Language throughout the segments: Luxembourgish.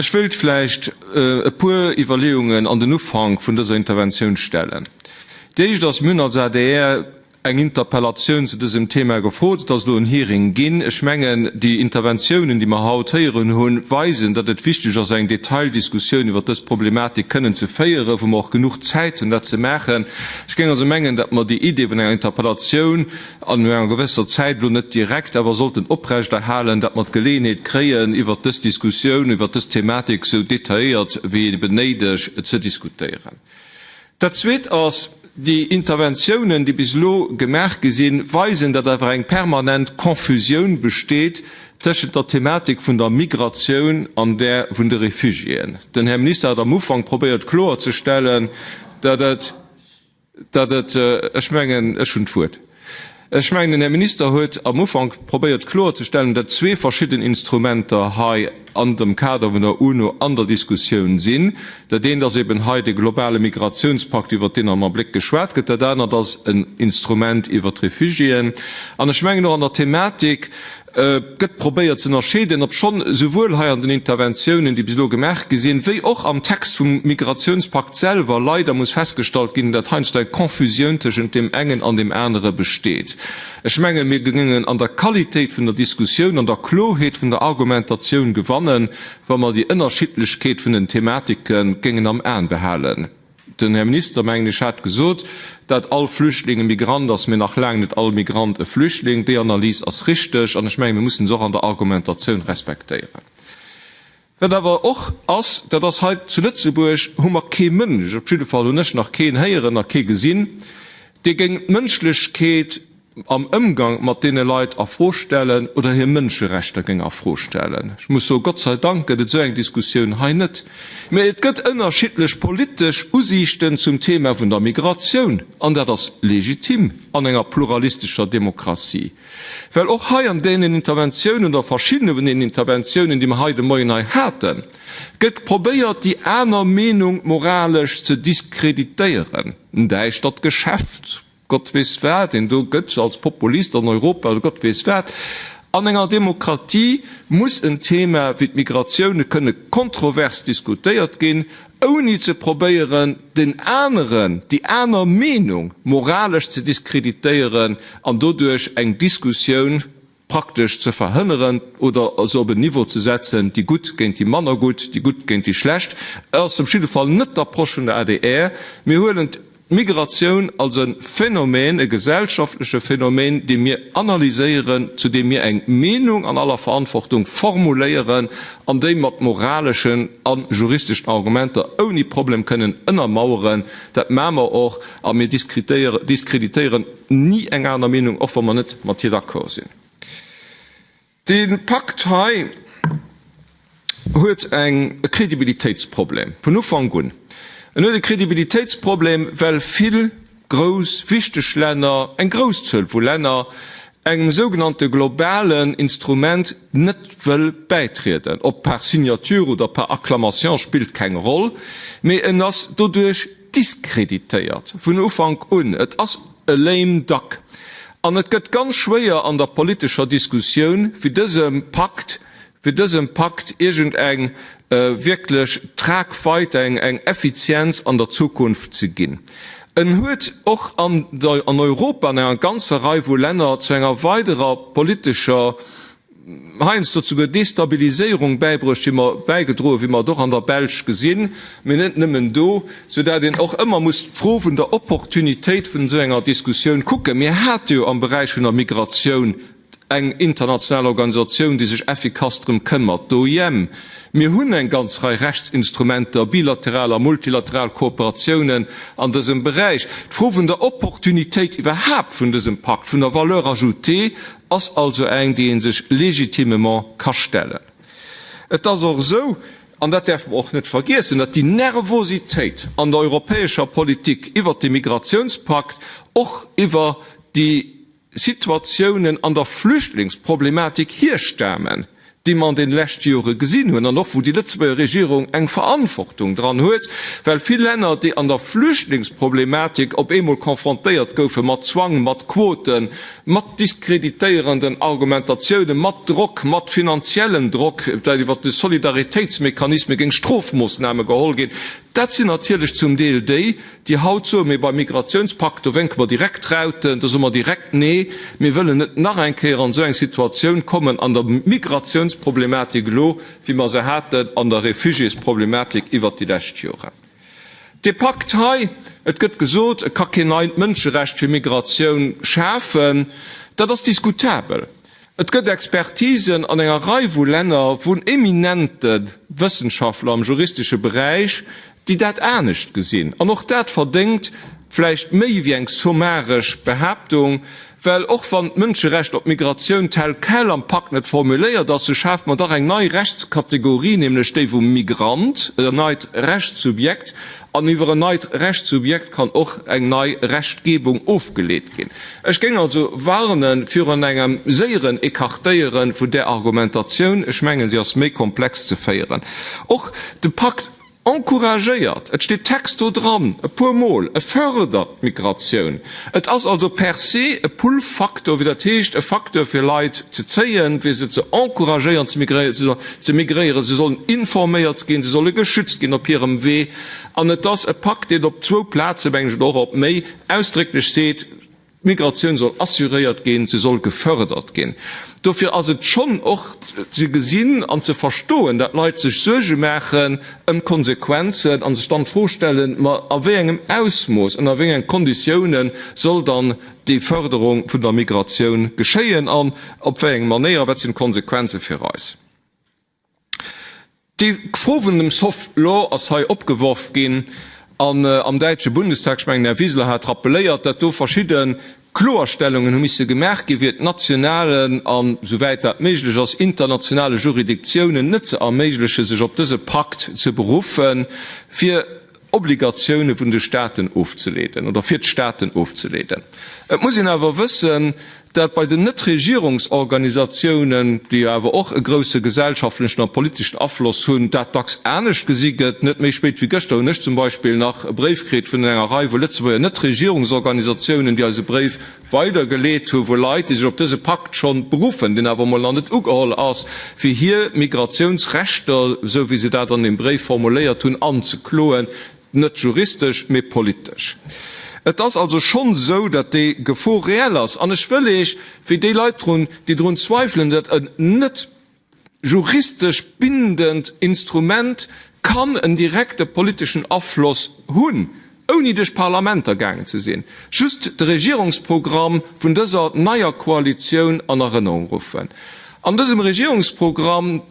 Ech wëilt vläicht e puer Iwwerleeungen an den Ufank vun dëser Interventioun stellen. Déi éischt ass, mir hunn als adr eng Interpellatioun zu dësem Thema gefrot, et ass elo en Hearing ginn. Ech mengen, déi Interventiounen, déi mer haut héieren hunn, weisen, datt et wichteg ass, eng Detaildiskussioun iwwert dës Problematik kënnen ze féieren, wou mer och genuch Zäit hunn, dat ze maachen. Ech géing also mengen, datt mer déi Idee vun enger Interpellatioun an enger gewësser Zäit, elo net direkt, awer sollten oprechterhalen, datt mer d'Geleeënheet kréien, iwwert dës Diskussioun, iwwert dës Thematik esou detailléiert wéi eben néideg ze diskutéieren. Dat Zweet ass, Déi Interventiounen, déi bis elo gemaach gi sinn, weisen, datt einfach eng permanent Confusioun besteet tëschent der Thematik vun der Migratioun an där vun de Refugiéen. Den Här Minister hat am Ufank probéiert kloerzestellen, Ech mengen, ech hunn d'Wuert. Ech mengen, den Här Minister huet am Ufank probéiert kloerzestellen, datt zwee verschidden Instrumenter hei an dem Kader vun der UNO an der Diskussioun sinn. Dat eent ass eeben hei de globale Migratiounspakt, iwwert deen am Abléck geschwat gëtt. Dat anert ass en Instrument iwwert d'Refugiéen. An ech mengen och an der Thematik, Et gëtt probéiert ze ënnerscheeden, obschonn souwuel hei an den Interventiounen, déi bis elo gemaach gi sinn, wéi och am Text vum Migratiounspakt selwer leider muss festgestallt ginn, datt heiansdo eng Confusioun tëschent deem engen an deem anere besteet. Ech menge mir géingen an der Qualitéit vun der Diskussioun, an der Kloheet vun der Argumentatioun gewannen, wa mer déi Ënnerschiddlechkeet vun den Thematike géingen am Aen behalen. Den Här Minister, mengen ech, hat gesot, dat all Flüchtling e Migrant ass, mä nach laang net all Migrant e Flüchtling. Déi Analys ass richtig, an ech mengen, mir mussen se och an der Argumentatioun respektéieren. Wat awer och ass, dat ass, hei zu Lëtzebuerg hu mer kee Mënsch, op jidde Fall hunn ech nach keen héieren a kee gesinn, dee géint d'Mënschlechkeet am Ëmgang mat deene Leit a Fro stellen oder hir Mënscherechter géing a Fro stellen. Ech muss soen, Gott sei Dank gëtt et esou eng Diskussioun hei net. Mä et gëtt ënnerschiddlech politesch Usiichten zum Thema vun der Migratioun, an dat ass legitim an enger pluralistescher Demokratie. Well och hei an deenen Interventiounen oder verschiddene vun deenen Interventiounen, déi mer hei de Moien hei haten, gëtt probéiert, déi aner Meenung moralesch ze diskreditéieren. Näischt, dat Geschäft! Gott weess wat een do gëtt als Populist an Europa oder Gott weess wat. An enger Demokratie muss en Thema wéi d'Migratioune kënne kontrovers diskutéiert ginn, ouni ze probéieren, den aneren, déi aner Meenung moralesch ze diskreditéieren an doduerch eng Diskussioun praktesch ze verhënneren oder se op en Niveau ze setzen, déi Gutt géint déi manner Gutt, déi Gutt géint déi Schlecht. Et ass op jidde Fall net d'Approche vun der adr. Mir huelen d'Migratioun als e Phänomen, e gesellschaftleche Phänomen, dee mir analyséieren, zu deem mir eng Meenung an aller Verantwortung formuléieren an déi mat moraleschen a juristeschen Argumenter ouni Problem kënnen ënnermaueren. Dat maache mer och a mir diskreditéieren ni eng aner Meenung, och wa mer net mat hir d'accord sinn. Dee Pakt hei huet e Credibilitéitsproblem vun Ufank un. En huet e Credibilitéitsproblem, well vill grouss, wichteg Länner, eng grouss Zuel vu Länner, engem sougenannte globalen Instrument net wëll bäitrieden. Ob par signature oder par acclamation spillt keng Roll, mee en ass doduerch, diskreditéiert vun Ufank un. Et ass e lame duck an et gëtt ganz schwéier an der politescher Diskussioun, fir dësem Pakt, fir dësem Pakt iergendeng wierklech Tragweite, eng Effizienz an der Zukunft ze ginn. En huet och an Europa an enger ganzer Rei vu Länner zu enger weiderer politescher heiansdo zu der Destabiliséierung bäibruecht, wéi mer, bäigedroen, wéi mer et och an der Belsch gesinn, mee net nëmmen do, soudatt een och ëmmer muss d'Fro vun der Opportunitéit vun esou enger Diskussioun kucken. Mir hate jo am Beräich vun der Migratioun eng international Organisatioun, déi sech effikass drëm këmmert, d'OIM. Mir hunn eng ganz Rei Rechtsinstrumenter, bilateral a multilateral Kooperatiounen an dësem Beräich. D'Fro vun der Opportunitéit iwwerhaapt vun dësem Pakt, vun der Valeur ajoutée ass also eng, déi ee sech légitimement ka stellen. Et ass och esou, an dat däerfe mer och net vergiessen, datt déi Nervositéit an der europäescher Politik iwwert de Migratiounspakt, och iwwer déi Situatiounen an der Flüchtlingsproblematik hirstamen, déi mer an den leschte Jore gesinn hunn, an och wou déi Lëtzebuerger Regierung eng Verantwortung dran huet, well vill Länner, déi an der Flüchtlingsproblematik op eemol konfrontéiert goufen mat Zwang, mat Quoten, mat diskreditéierenden Argumentatiounen, mat Drock, mat finanziellem Drock, well iwwert de Solidaritéitsmechanisme géing Strofmoossname geholl ginn, dat sinn natierlech zum Deel déi, Déi haut soe mir, beim Migratiounspakt, do wénke mer direkt Rauten, do soe mer direkt Nee, mir wëllen net nach eng Kéier an esou eng Situatioun kommen an der Migratiounsproblematik elo, wéi mer se haten an der Réfugiésproblematik iwwert déi lescht Joren. Dee Pakt hei, et gëtt gesot, e ka keen neit Mënscherecht fir Migratioun schafen, dat ass diskutabel. Et gëtt Expertisen an enger Rei vu Länner vun eminente Wëssenschaftler am juristesche Beräich, déi dat anescht gesinn. An och dat verdéngt vläicht méi wéi eng sommaresch Behaaptung, well och wann d'Mënscherecht op Migratioun tel quel am Pakt net formuléiert ass, sou schaaft mer dach eng nei Rechtskategorie, nämlech déi vum Migrant, en neit Rechtssubjekt, An iwwer en neit Rechtssubjekt kann och eng nei Rechtgebung ofgeleet ginn. Ech géing also warne virun engem séieren Ecartéiere vun där Argumentatioun. Ech mengen, se ass méi komplex ze féieren. Och de Pakt encouragéiert, et steet texto dran, e puer Mol, e fördert d'Migratioun. Et ass also per se e Pull-Faktor, wéi dat heescht, e Faktor fir Leit ze zéien, fir se ze encouragéieren ze migréieren. Si sollen ze migréieren, si sollen informéiert ginn, si solle geschützt ginn op hirem Wee. An et ass e Pakt, deen op zwou Plazen, meng ech, oder och op méi, ausdrécklech seet, d'Migratioun soll assuréiert ginn, se soll gefërdert ginn. Dofir ass et schonn och ze gesinn an ze verstoen, datt Leit sech Suerge maachen ëm d'Konsequenzen a sech dann d'Fro stellen, ma a wéi engem Ausmooss, ënner wéi enge Konditiounen soll dann déi Fërderung vun der Migratioun geschéien an op wéi eng Manéier, wat sinn d'Konsequenze fir eis? D'Fro vun dem Soft Law ass hei opgeworf ginn an am däitsche Bundestag, ech mengen, den Här Wiseler hat rappeléiert, datt do verschidde Kloerstellungen hu misse gemaach ginn, fir et nationalen an, souwäit dat méiglech ass, internationale Juridictiounen net ze erméiglechen, sech op dëse Pakt ze beruffen, fir Obligatioune vun de Staaten ofzeleeden oder fir d'Staaten ofzeleeden. Et muss een awer wëssen, dat bei den Netregierungsorganisatiounen, déi jo awer och e grousse gesellschaftlechen a politeschen Afloss hunn, dat dacks anescht gesi gëtt. Net méi spéit wéi gëschter hunn ech zum Beispill nach e Bréif kritt vun enger Rei vu Lëtzebuerger Netregierungsorganisatiounen, déi eis e Bréif, weidergeleet hu vu Leit, déi sech op dëse Pakt schonn beruffen, deen awer emol nach net ugeholl ass, fir hir Migratiounsrechter, esou wéi se dat an deem Bréif formuléiert hunn, anzekloen, net juristesch, mee politesch. Et ass also schonn esou, datt déi Gefor reell ass. An ech wëll eech, wéi déi Leit drun, déi drun zweifelen, dat net juristesch bindend Instrument kann en direkte politeschen Afloss hunn, ouni duerch d'Parlamenter gaangen ze sinn. Just de Regierungsprogramm vun dëser neier Koalitioun an Erënnerung ruffen. An dësem Regierungsprogramm,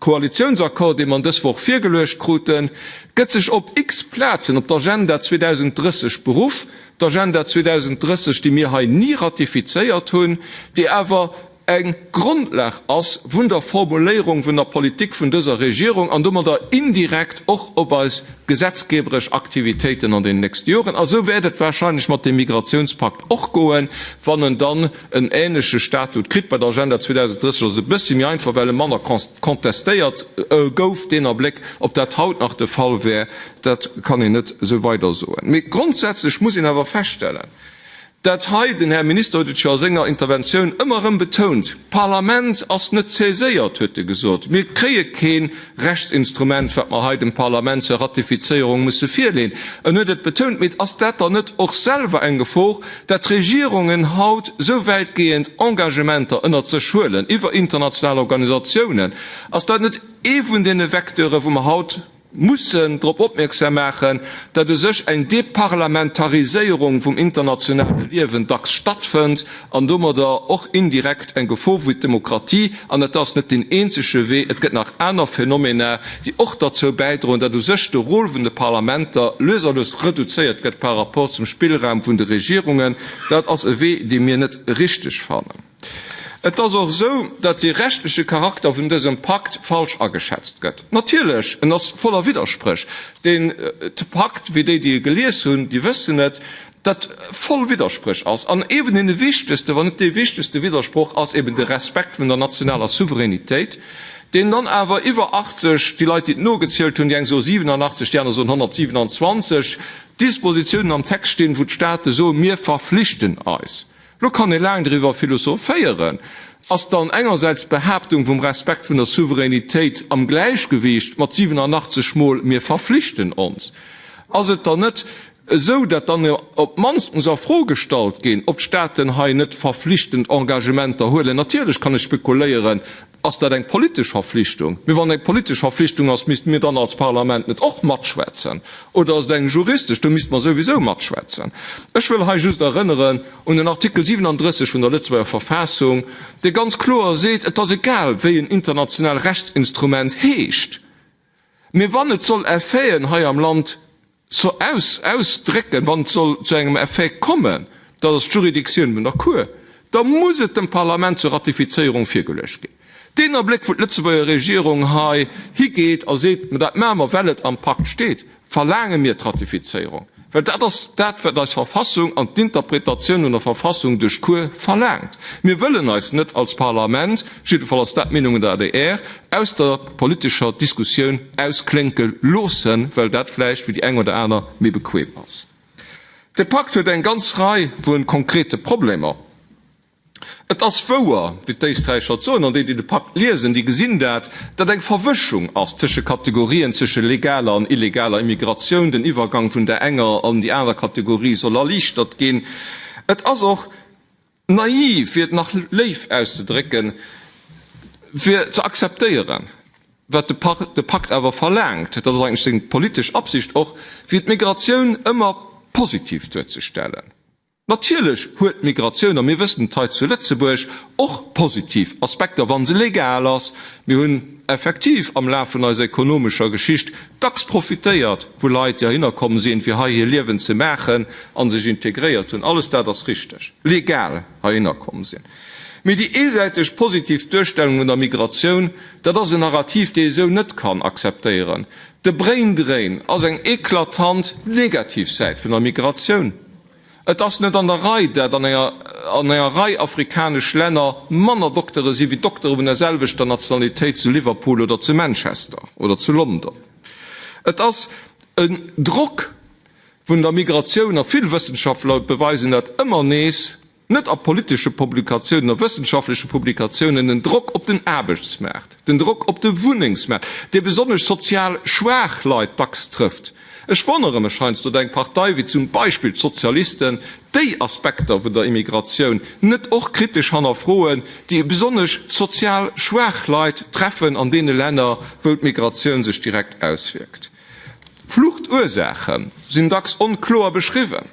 Koalitiounsaccord, dee mer dës Woch virgeluecht kruten, gëtt sech op x Plazen op d'Agenda 2030 beruff, d'Agenda 2030, déi mir hei ni ratifizéiert hunn, déi awer, Eng Grondlag ass vun der Formuléierung vun der Politik vun dëser Regierung an domadder indirekt och op eis gesetzgeberesch Aktivitéiten an den nächste Joren. A sou wäert et wahrscheinlech mat deem Migratiounspakt och goen, wann en dann en änleche Statut kritt. Bei der Agenda 2030 ass et e bëssche méi einfach, well e manner contestéiert gouf. Deen Abléck, ob dat haut nach de Fall wär, dat kann een net sou weidersoen. Mee grondsätzlech muss een awer feststellen, Dat hei, den Här Minister huet et scho a senger Interventioun ëmmer erëm betount, d'Parlament ass net saiséiert, huet e gesot. Mir kréie kee Rechtsinstrument, wat mer hei dem Parlament zur Ratifizéierung musse virleeën. En huet et betount. Mee ass dat dann net och selwer eng Gefor, dat d'Regierungen haut esou wäitgehend Engagementer ënnert sech huelen iwwer international Organisatiounen? Ass dat net ee vun deene Vecteure wou mer haut mussen drop opmierksam maachen, datt u sech eng Deparlamentariséierung vum internationale Liewen dacks stattfënnt an domadder och indirekt eng Gefor fir d'Demokratie. An et ass net deen eenzege Wee, et gëtt nach aner Phänomena, déi och derzou bäidroen, datt u sech de Rôle vun de Parlamenter lues a lues reduzéiert gëtt par rapport zum Spillraum vun de Regierungen. Dat ass e Wee, dee mir net richtig fannen. Et ass och esou, datt de rechtleche Charakter vun dësem Pakt falsch ageschätzt gëtt. Natierlech, en ass voller Widderspréch, deen Pakt, wéi déi, déi e gelies hunn, déi wëssen et, datt voll Widderspréch ass. An ee vun deene wichtegsten, wann net dee wichtegste Widdersproch ass eben de Respekt vun der nationaler Souveränitéit, deen dann awer iwwer 80, déi Leit, déi et nogezielt hunn, déi eng soe 87, déi aner soen 127 Dispositiounen am Text stinn, wou d'Staate soen, Mir verflichten eis. Lo kann ee laang driwwer philosophéieren, Ass dann engersäits d'Behaaptung vum Respekt vun der Souveränitéit am Gläichgewicht mat 87 mol Mir verflichten ons? Ass et dann net esou, datt dann op d'mannst muss a Fro gestallt ginn, ob d'Staaten hei net verflichtend Engagementer huelen? Natierlech kann ech spekuléieren, Ass dat eng politesch Verflichtung? Mee wann et eng politesch Verflichtung ass, misste mir dann als Parlament net och matschwätzen? Oder ass et eng juristesch, do misste mer souwisou matschwätzen? Ech wëll hei just erënneren un den Artikel 37 vun der Lëtzebuerger Verfassung, dee ganz kloer seet, et ass egal, wéi en international Rechtsinstrument heescht, Mee wann et soll Effeten hei am Land ausdrécken, wann et soll zu engem Effet kommen, dat ass d'Juridiktioun vun der Cour, da muss et dem Parlament zur Ratifizéierung virgeluecht ginn. Deen Abléck, wou d'Lëtzebuerger Regierung hei higeet a seet, mä dat maache mer, well et am Pakt steet, Verlaange mir d'Ratifizéierung, well dat ass dat, wat eis Verfassung an d'Interpretatioun un der Verfassung duerch d'Cour verlaangt. Mir wëllen eis net als Parlament, jiddefall ass dat d'Meenung an der adr, aus der politescher Diskussioun ausklénke loossen, well dat vläicht fir déi eng oder aner méi bequem ass. De Pakt huet eng ganz Rei vu konkrete Problemer. Et ass wouer, wéi d'Éisträicher et soen, an déi, déi de Pakt liesen, déi gesinn dat, datt eng Verwëschung ass tësche Kategorien, tësche legaler an illegaler Immigratioun. Den Iwwergang vun där enger an déi aner Kategorie soll erliichtert ginn. Et ass och naiv, fir et nach léif auszedrécken, fir ze akzeptéieren, wat de Pakt awer verlaangt, dat ass eigentlech seng politesch Absicht och, fir d'Migratioun ëmmer positiv duerzestellen. Natierlech huet d'Migratioun, a mir wëssen et hei zu Lëtzebuerg, och positiv Aspekter, wa se legal ass. Mir hunn effektiv am Laf vun eiser ekonomescher Geschicht dacks profitéiert, wou Leit jo hinner komm sinn, fir hei hir Liewen ze maachen a sech integréiert hunn. Alles dat ass richteg. Legal hei hinner komm sinn. Mee déi eesäiteg positiv Duerstellung vun der Migratioun, dat ass en Narrativ, dee ee sou net kann akzeptéieren. De Braindrain ass eng eklatant negativ Säit vun der Migratioun. Et ass net an der Rei, dat an enger Rei afrikanesch Länner manner Doktere si wéi Doktere vun der selwechter Nationalitéit zu Liverpool oder zu Manchester oder zu London. Et ass e Drock vun der Migratioun a vill Wëssenschaftler beweisen dat ëmmer nees. Net a politesche Publikatiounen, a wëssenschaftleche Publikatiounen, den Drock op den Aarbechtsmaart, den Drock op de Wunnengsmaart, dee besonnesch sozial schwaach Leit dacks trëfft. Ech wonnere mech heiansdo, datt eng Partei wéi zum Beispill d'Sozialisten déi Aspekter vun der Immigratioun net och kritesch hannerfroen, déi besonnesch sozial schwaach Leit treffen an deene Länner, wou d'Migratioun sech direkt auswierkt. D'Fluchtursaache sinn dacks onkloer beschriwwen.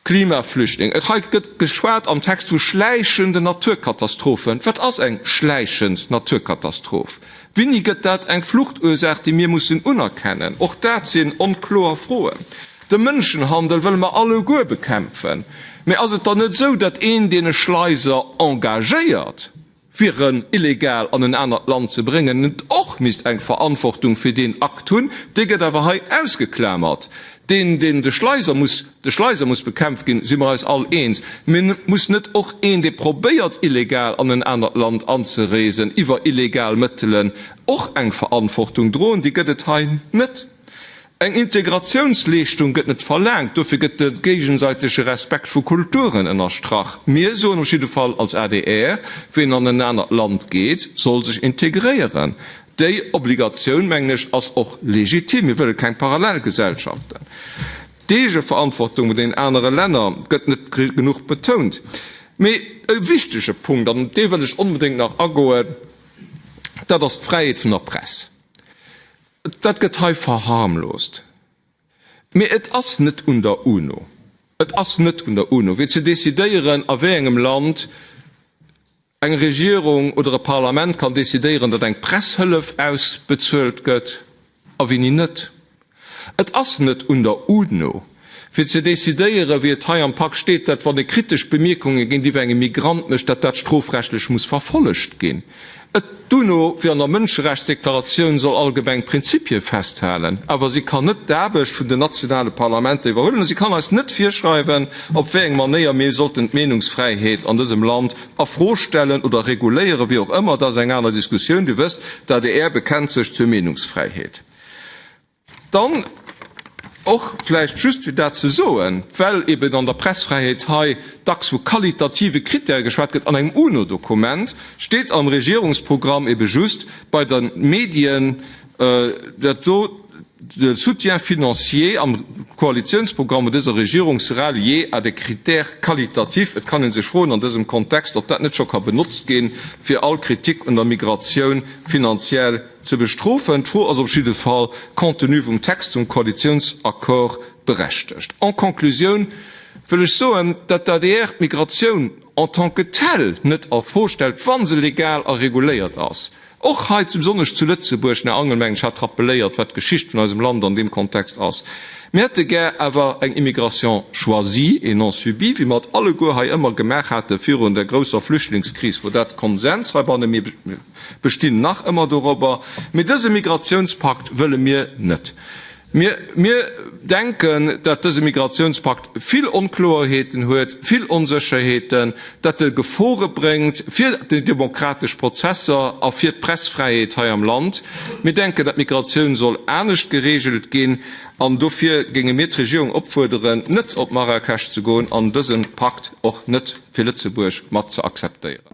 Klimaflüchtling, Et hei gëtt geschwat am Text vu schläichenden Naturkatastrophen. Wat ass eng schläichend Naturkatastroph? Winni gëtt dat eng Fluchtursaach, déi mir mussen unerkennen? Och dat sinn onkloer Froen. De Mënschenhandel wëlle mer alleguer bekämpfen. Mee ass et dann net esou, datt een, deen e Schleiser engagéiert, fir en illegal an en anert Land ze bréngen, net och misst eng Verantwortung fir deen Akt hunn, dee gëtt awer hei ausgeklamert. Deen, deen de Schleiser muss, de Schleiser muss bekämpft ginn, si mer eis all eens. Mee muss net och een, dee probéiert illegal an en anert Land anzereesen iwwer illegal Mëttelen, och eng Verantwortung droen? Déi gëtt et hei net. Eng Integratiounsleeschtung gëtt net verlaangt, dofir gëtt de géigesäitege Respekt vu Kulturen ënnerstrach. Mir soen op jidde Fall als adr, ween an en anert Land geet, soll sech integréieren. Déi Obligatioun, mengen ech, ass och legitim. Mir wëlle keng Parallelgesellschaften. D'Eegeverantwortung bei den anere Länner gëtt net genuch betount. Mee e wichtege Punkt, an op dee wëll ech onbedéngt nach agoen, dat ass d'Fräiheet vun der Press. Dat gëtt hei verharmlost, mee et ass net un der UNO, et ass net un der UNO, fir ze decidéieren, a wéi engem Land eng Regierung oder e Parlament kann decidéieren, datt eng Presshëllef ausbezuelt gëtt a wéini net. Et ass net un der UNO. Fir ze decidéieren, wéi et hei am Pak steet, datt wann e kritesch Bemierkunge géintiwwer engem Migrant mécht, datt dat strofrechtlech muss verfollegt ginn. Et d'UNO wéi an der Mënscherechtsdeklaratioun soll allgemeng Prinzippie festhalen, awer si kann net d'Aarbecht vun den nationale Parlamenter iwwerhuelen a si kann eis net virschreiwen, op wéi eng Manéier mir sollten d'Meenungsfräiheet an dësem Land a Fro stellen oder reguléieren, wéi och ëmmer. Dat ass eng aner Diskussioun. Dir wësst, d'ADR bekennt sech zur Meenungsfräiheet. Dann och vläicht just fir dat ze soen, well eben an der Pressfräiheet hei dacks vu qualitative Krittäre geschwat gëtt, an engem UNO-Dokument steet am Regierungsprogramm eben just bei den Medien, dat do de soutien financier am Koalitiounsprogramm vun dëser Regierung sera lié à des critères qualitatifs. Et kann ee sech froen an dësem Kontext, ob dat net scho ka benotzt ginn, fir all Kritik un der Migratioun finanziell ze bestrofen. D'Fro ass op jidde Fall compte tenu vum Text vum Koalitiounsaccord berechtegt. En Conclusioun wëll ech soen, datt d'ADR d'Migratioun en tant que telle net a Fro stellt, wa se legal a reguléiert ass. Och hei zu, besonnesch zu Lëtzebuerg, den Här Angelmengen hat rappelléiert, wat d'Geschicht vun eisem Land an deem Kontext ass. Mir hätte gär awer eng Immigration choisie et non subie, wéi mer et alleguer hei ëmmer gemaach hate virun der grousser Flüchtlingskris, wou dat Konsens heibanne. bestinn nach ëmmer dorobber, mee dëse Migratiounspakt wëlle mir net. Mir, mir denken, datt dëse Migratiounspakt vill Onkloerheeten huet, vill Onsécherheeten, datt e Gefore bréngt fir déi demokratesch Prozesser a fir d'Pressfräiheet hei am Land. Mir denken, datt d'Migratioun soll anescht geregelt ginn an dofir géinge mir d'Regierung opfuerderen, net op Marrakesch ze goen an dëse Pakt och net fir Lëtzebuerg mat ze akzeptéieren.